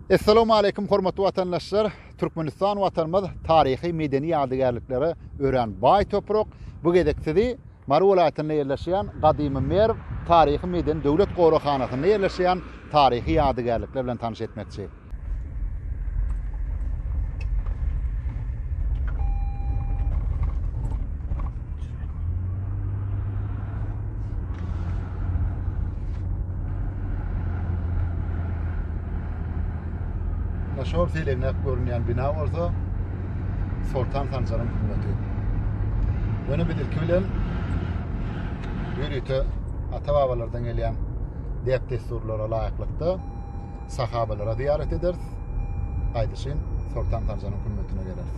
Essalawmaleýkim hormatly watandaşlar! Türkmenistan watanymyz taryhy medeni ýadygärliklere örän baý toprak. Bu gezek sizi Mary welaýatynda ýerleşýän Gadymy Merw taryhy medeni döwlet goraghanasynda ýerleşýän taryhy ýadygärlikler bilen tanyş etmekçi. Şol seleňläp görünýän bina bolsa Soltan Sanjaryň hünmeti. Ýöne biz ilki bilen ýörite ata-babalardan gelýän däp-dessurlara laýyklykda sahabalara zyýarat ederis. Gaýdyşyn Soltan Sanjaryň hünmetine geleris.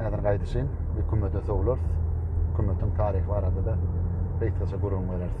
Häzir gaýdyşyn hökümete sowlarys. Hökümetiň taryhy barada da gysgaça gürrüň bereris.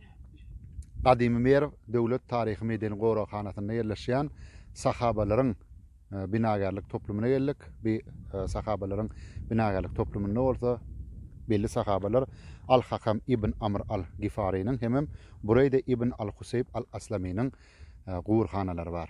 Gadymy Merw döwlet taryhy-medeni goraghanasynda ýerleşýän Sahabalaryň binagärlik toplumyna geldik. Bu Sahabalaryň binagärlik toplumynda bolsa belli Sahabalar Al-Hakam ibn Amr al-Gifarynyň hemem Bureýde ibn al-Huseýb al-Aslamynyň guburhanalary bar.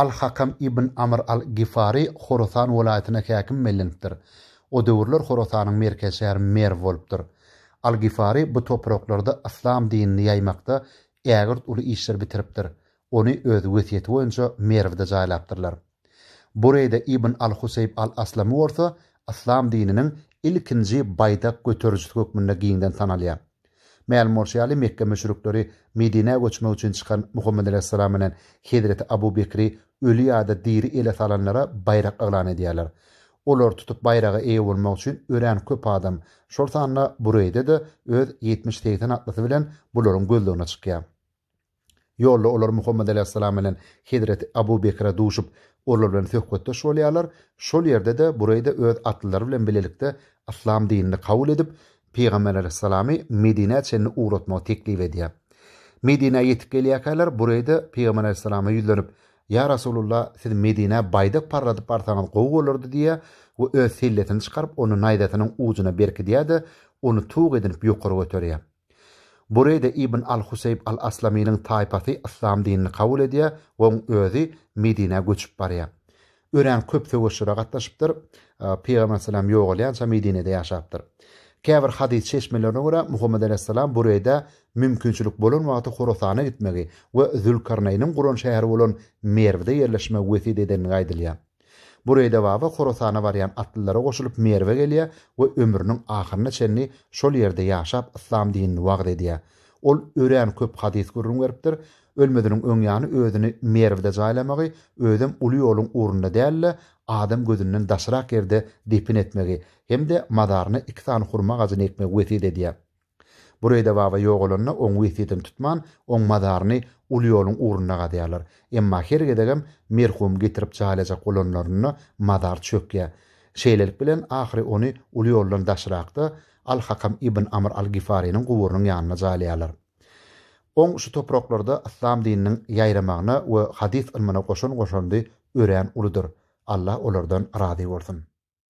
Al-Hakam ibn Amr al-Gifary Horasan welaýatyna häkim bellenipdir. O döwürler Horasanyň merkez şäheri Merw bolupdyr. Al-Gifary bu topraklarda yslam dinini ýaýmakda ägirt uly işler bitiripdir. Ony öz wesýeti boýunça Merwde jaýlapdyrlar. Bureýde ibn al-Huseýb al-Aslamy bolsa yslam dininiň ilkinji baýdak göterijisi hökmünde giňden tanalýar. Mälim bolşy ýaly, Mekge müşrikleri Medinä göçmek üçin çykan Muhammet alaýhyssalam bilen hezreti Abu Bekri öli ýa-da diri ele salanlara baýrak yglan edýärler. Olary tutup baýraga eýe bolmak üçin örän köp adam, şol sanda Bureýde-de öz ýetmiş-segsen atlysy bilen bularyň gözlegine çykýar. Ýolda olar Muhammet alaýhyssalam bilen hezreti Abu Bekre duşup, olar bilen söhbetdeş bolýarlar. Şol ýerde-de Bureýde öz atlylary bilen bilelikde yslam dinini kabul edip, Pygamber alaýhyssalamy Medinä çenli ugratmagy teklip edýär. Medinä ýetip gelýärkäler Bureýde Pygamber alaýhyssalama ýüzlenip, Ýa Rasulullah, siz Medinä baýdak parladyp barsaňyz gowy bolardy diýýär we öz sellesini çykaryp, ony naýzasynyň ujuna berkidýär-de, ony tug edinip ýokary göterýär. Bu reýde Ibn al-Huseýb al-Aslamynyň taýpasy yslam dinini kabul edýär we oň özi Medinä göçüp barýar. Örän köp söweşlere gatnaşypdyr. Pygamber salam ýogalýança Medinede ýaşapdyr. Käbir hadys çeşmelerine görä, Muhammet alaýhyssalam bu reýde mümkinçilik bolan wagty Horasana gitmegi we Zülkarnaýnyň guran şäheri bolan Merwde ýerleşmegi wesýet edenligi aýdylýar. Bureýde baba Horasana barýan atlylara goşulyp Merwe gelýär we ömrüniň ahyryna çenli şol ýerde ýaşap yslam dinini wagyz edýär. Ol örän köp hadys gürrüň beripdir. Ölmeziniň öň ýany özüni Merwde jaýlamagy, özem uly ýoluň ugrunda däl-de, adam gözünden daşrak ýerde depin etmegi hem-de mazaryna iki sany hurma agajyny ekmegi wesýet edýär. Bureýde baba ýogalanda oň wesýetini tutman, oň mazaryny uly ýoluň ugrunda gazýarlar. Emma her gezegem merhum getirip jaýlajak bolanlarynda mazar çökýär. Şeýlelik bilen ahyry ony uly ýoldan daşrakda Al-Hakam ibn Amr al-Gifarynyň guburynyň ýanyna jaýlaýarlar. Oň şu topraklarda yslam dininiň ýaýramagyna we hadys ylmyna goşan goşandy örän uludyr. Allah olardan razy bolsun.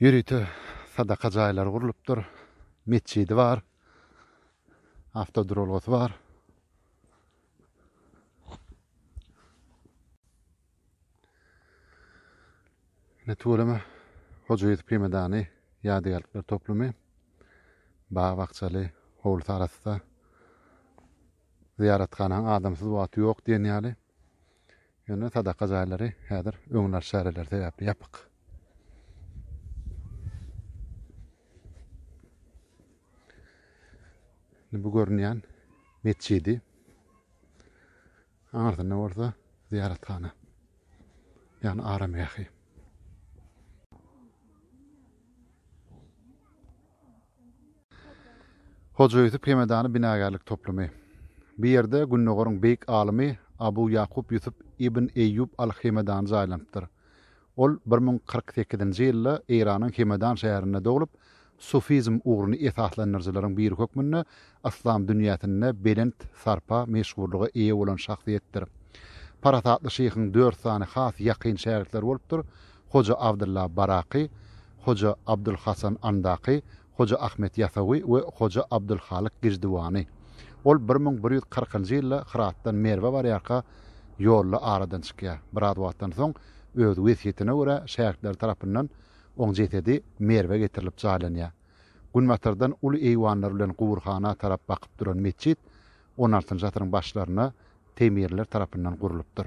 Ýörite sadaka jaýlary gurlupdyr. Metjidi bar. Awtoduralgasy bar. Ne tüweleme Hoja Ýusup Hemedany ýadygärlikler toplumy bag-bakjaly howlusy arasda zyýarathanaň adamsyz wagty ýok diýen ýaly Ýöne sadaka jaýlary häzir öňünalyş çäreleri sebäpli ýapyk. Bu görünýän metjidi. Aňyrsynda bolsa zyýarathana. Ýagny aramgähi. Hoja Ýusup Hemedany binagärlik toplumy. Bu ýerde Gündogaryň beýik alymy Abu Ýakup Ýusup ibn Eýýup al-Hemedany jaýlanypdyr. Ol bir müň kyrk sekizinji ýylda Eýranyň Hemedan şäherinde doglup, sufizm ugruny esaslandyryjylaryň biri hökmünde yslam dünýäsinde belent sarpa, meşhurlyga eýe bolan şahsyýetdir. Parasatly şyhyň dört sany has ýakyn şägirtleri bolupdyr, Hoja Abdylla Baraky, Hoja Abdulhasan Andaky, Hoja Ahmet Ýasawy we Hoja Abdulhalyk Giždiwany. Ol bir müň bir ýüz kyrkynjy ýylda Hyratdan Merwe barýarka ýolda aradan çykýar. Biraz wagtdan soň öz wesýetine görä şägirtleri tarapyndan oň jesedi Merwe getirilip jaýlanýar. Günbatardan uly eýwanlar bilen guburhana tarap bakyp duran metjit on altynjy asyryň başlarynda Teýmirler tarapyndan gurlupdyr.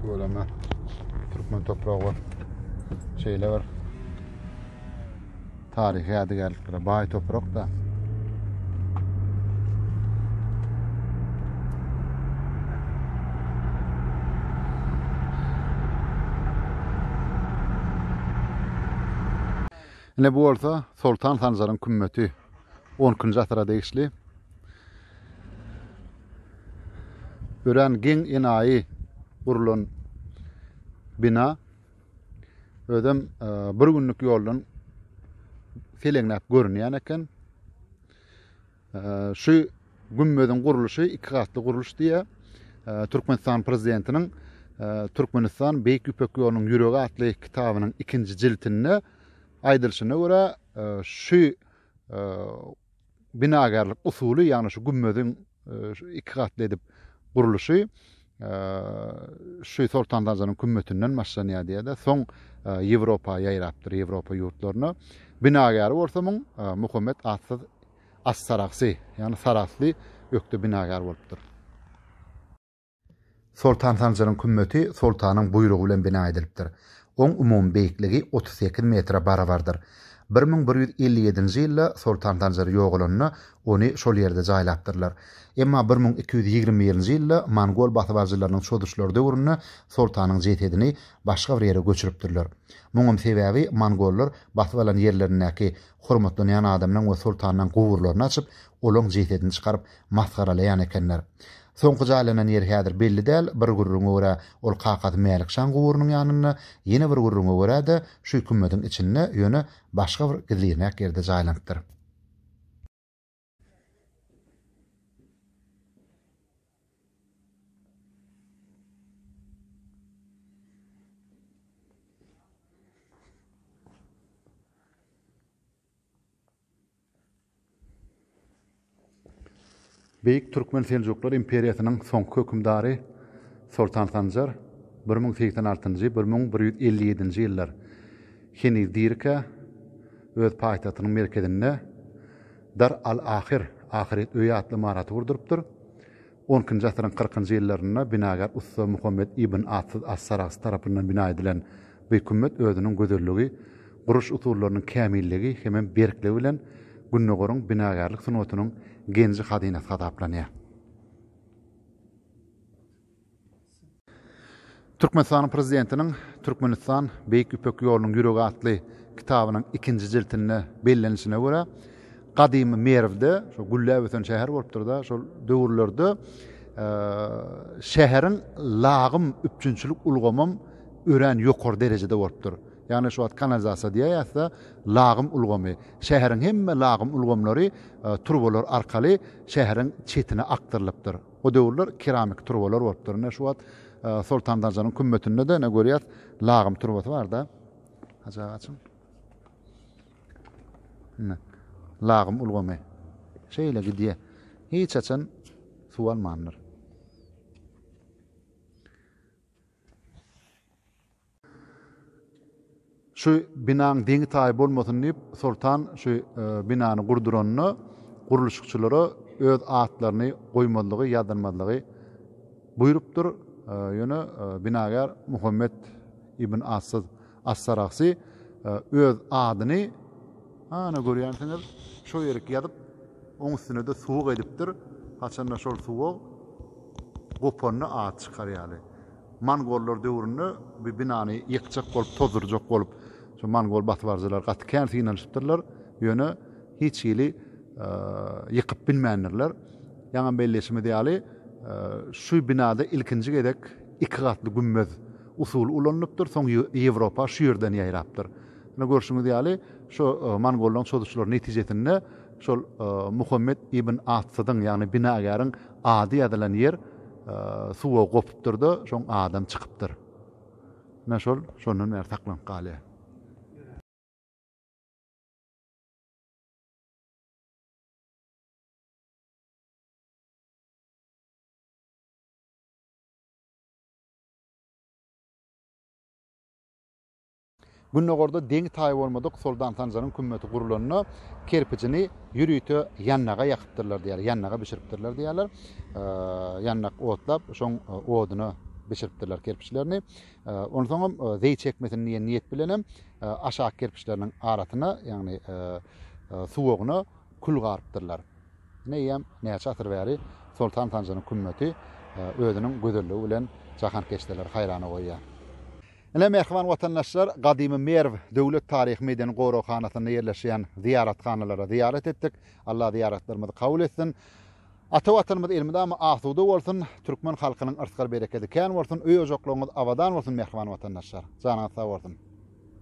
Tüweleme türkmen topragy bar. Şeýle bir taryhy ýadygärliklere baý toprak da. Ine bu bolsa Soltan Sanjaryň kümmeti 12-nji asyra degişli. Örän geň enaýy gurlan bina özem e, bir günlük ýoldan seleňläp görünýän eken. E, şu gümmediň gurluşy iki gatly gurluş diýýär. E, Türkmenistan prezidentiniň Türkmenistan Beýik Ýüpek ýolunyň ýüregi atly kitabynyň ikinji jiltinde aýdylşyna görä şu binagärlik usuly, ýagny şu gümmeziň şu iki gatly edip gurluşy şu Soltan Dajanyň kümmetinden başlanýar diýýär-de, soň Ýewropa ýaýrapdyr, Ýewropa ýurtlaryna. Binagäri bolsa muň Muhammet atsyz As-Saragsy, ýagny Sarahsly ökde binagär bolupdyr. Soltan Sanjaryň kümmeti soltanyň buýrugy bilen bina edilipdir. Oň umumy beýikligi otuz sekiz metre barabardyr. Bir müň bir ýüz elli ýedinji ýylda Soltan Sanjar ýogalanda, ony şol ýerde jaýlapdyrlar. Emma bir müň iki ýüz ýigrimi birinji ýylda mongol basybaljylarynyň çozuşlary döwründe soltanyň jesedini başga bir ýere göçüripdirler. Muňam sebäbi mongollar basyp alan ýerlerindäki hormatlanýan adamynyň we soltanynyň guburlaryny açyp, Olaň jesedini çykaryp masgaralaýan ekenler. Soňky jaýlanan ýeri häzir belli däl, bir gürrüňe görä ol kakasy Mälik şaň guburynyň ýanynda, ýene bir gürrüňe görä-de şu kümmediň içinde, ýöne başga bir gizliräk ýerde jaýlanypdyr. Beýik Türkmen Seljuklar imperiýasynyň soňky hökümdary Soltan Sanjar bir müň segsen altynjy, bir müň bir ýüz elli ýedinji ýyllar heniz dirikä öz paýtagtynyň merkezinde Dar al-Ahyr, Ahyret öýi, atly ymaraty gurdurypdyr. On ikinji asyryň kyrkynjy ýyllarynda binagär ussa Muhammet ibn Atsyz as-Sarahsy tarapyndan bina edilen bu kümmet özüniň gözelligi, guruş usullarynyň kämilligi hemem berkligi bilen Gündogaryň binagärlik sungatynyň genji-hazynasy hasaplanýar. Türkmenistanyň Prezidentiniň Türkmenistan, Beýik Ýüpek ýolunyň ýüregi atly kitabynyň ikinji jiltinde bellenişine görä, gadymy Merwde, şo gülläp ösen şäher bolupdyr-da, şol döwürlerde şäheriň lagym üpjünçilik ulgamam örän ýokary derejede bolupdyr. Ýagny şu wagt kanalizasiýa diýäýäs-de, lagym ulgamy. Şäheriň hemme lagym ulgamlary turbalar arkaly şäheriň çetine akdyrylypdyr. O döwürler keramiki turbalar bolupdyr. Ine, şu wagt Soltan Darjanyň kümmetinde-de ine görýäs, lagym turbasy bar-da. Hajy aga açyň. Ine, lagym ulgamy. Şeýle gidýär. Hiç haçan suw almandyr. Şu binaň deňi-taýy bolmasyn diýip, soltan şu binany gurduranda gurluşykçylara öz atlaryny goýmazlygy, ýazylmazlygy buýrupdyr. Ýöne binagär Muhammet ibn Assyz As-Saragsy öz adyny, ana görýänsiňiz, şo ýerik ýazyp, oň üstüne-de suwuk edipdir. Haçanda şol suwuk gopanda at çykar ýaly. Mongollar döwründe bu binany ýykjak bolup, tozdurjak bolup, şu mongol basybaryjylar gaty kän synanyşypdyrlar, ýöne hiç hili ýykyp bilmändirler. Ýaňy belleýşimiz ýaly, şu binada ilkinji gezek iki gatly gümmez usuly ulanylypdyr, soň Ýewropa şu ýerden ýaýrapdyr. Ine, görşüňiz ýaly, şu mongollaryň çozuşlary netijesinde şol Muhammet ibn Atsydyň, ýagny binagäriň Ady ýazylan ýer suwa gopupdyr-da, şoň adam çykypdyr. Ine şol, şondan bäri saklanyp galýar. Gündogarda deňi-taýy bolmadyk Soltan Sanjaryň kümmeti gurlanda, kerpijini ýörite ýandaga ýakypdyrlar diýýärler, ýandaga bişiripdirler diýýärler. Ýandak otlap, şoň oduna bişiripdirler kerpiçlerini. Onsoňam zeý çekmesin diýen niýet bilenem aşak kerpiçleriniň arasyna, ýagny suwagyna kül garypdyrlar. Eýýäm näçe asyr bäri Soltan Sanjaryň kümmeti özüniň gözelligi bilen jahankeşdeleri haýrana goýýar. Ine, mähriban watandaşlar, gadymy Merw döwlet taryhy-medeni goraghanasynda ýerleşýän zyýarathanalara zyýarat etdik. Allah zyýaratlarymyzy kabul etsin. Ata Watanymyz elmydama asuda bolsun, türkmen halkynyň yrsgal-berekedi kän bolsun, öý-ojaklaryňyz abadan bolsun, mähriban watandaşlar! Janyňyz sag bolsun!